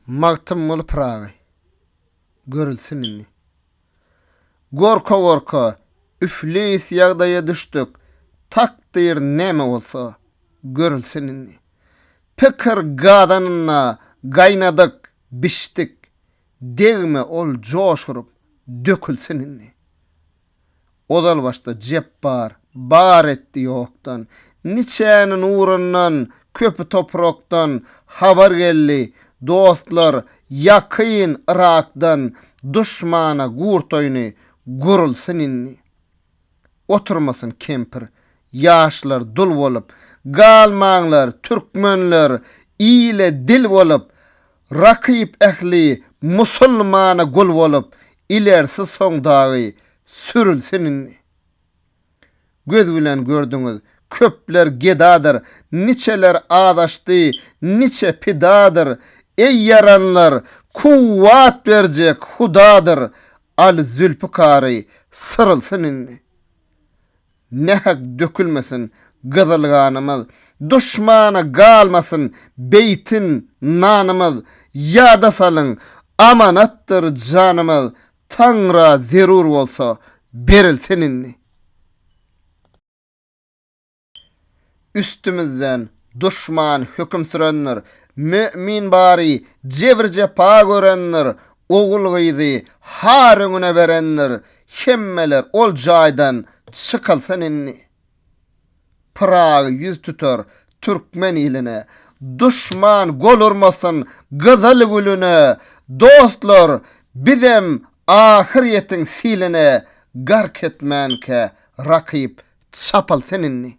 Magtymguly Pyragy. Görülsin indi. Gorka-gorka, üflis ýagdaýa düşdük, Takdyr näme bolsa, görülsin indi. Pikir gazanynda gaýnadyk, bişdik, Degme ol joş urup, dökülsin indi. Ozalbaşda Jepbar bar etdi ýokdan, Niçäni nurundan, köpi toprakdan, Habar geldi, dostlar, ýakyn Yrakdan, Duşmana gurt oýny, gurulsyn indi. Oturmasyn kempir, ýaşlar dul bolup, Galmaňlar, türkmenler, ile dil bolup, Rakyp ähli musulmana gul bolup, ilerisi soň dagy sürülsin indi. Göz bilen gördüňiz, köpler gedadyr, niçeler azaşdy, niçe pidadyr, eý ýaranlar, kuwwat berjek Hudadyr, Al Zülpikary, syrylsyn indi. Nähak dökülmesin gyzyl ganymyz, Duşmana galmasyn beýtin nanymyz, Ýada salyň, amanatdyr janymyz, Taňra zerur bolsa, berilsin indi. Üstümizden duşman höküm sürendir, Mömin bary jebir-jepa görendir, Ogul-gyzy har öňüne berendir, Hemmeler ol jaýdan çykylsyn indi. Pyragy ýüz tutar türkmen iline, Duşman gol urmasyn gyzyl güline, Dostlar, bizem ahyr ýetiň siline, Gark etmänkä rakyp çapylsyn indi.